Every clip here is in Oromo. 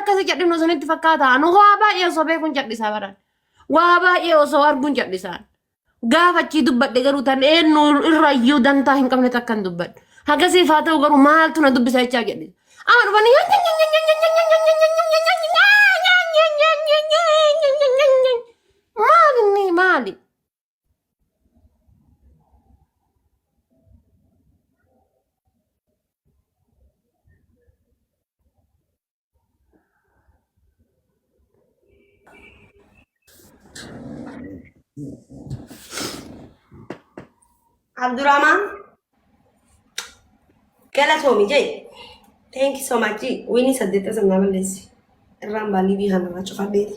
akkasa cadhinu isinitti fakkaata nu waa baay'ee osoo beekuun cadhisaa baran waa baay'ee osoo arguun cadhisaan gaafachii dubbadhe garuu tan eenyu irrayyuu dantaa hin qabne takkan dubbadhe hagasiif haa ta'u garuu maaltu na dubbisa jechaa jedhe amma dhufanii maal inni maali Abdurrahman galatoomi jee thank you so much jee wiinii saddeetta sannaa balleessi irraan baalii biihaan irraa cufadheeti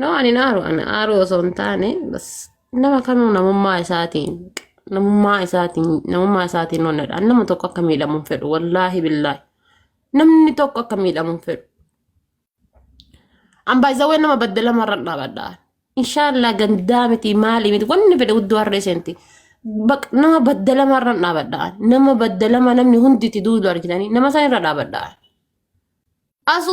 No ani naaru ani aaru osoo hin taane bas nama kamuu namummaa isaatiin namummaa isaatiin namummaa isaatiin onnedha. Ani nama tokko akka miidhamu hin fedhu wallaahi billaahi. Namni tokko akka miidhamu hin fedhu. An baay'isawwan nama baddalama irra dhaabadha. Inshaallah gandaa miti maali miti wanni fedhe guddoo harree seenti. Baq- Nama baddalama irra dhaabadha. Nama baddalama namni hundi itti duudu argitanii nama san irra dhaabadha. Asu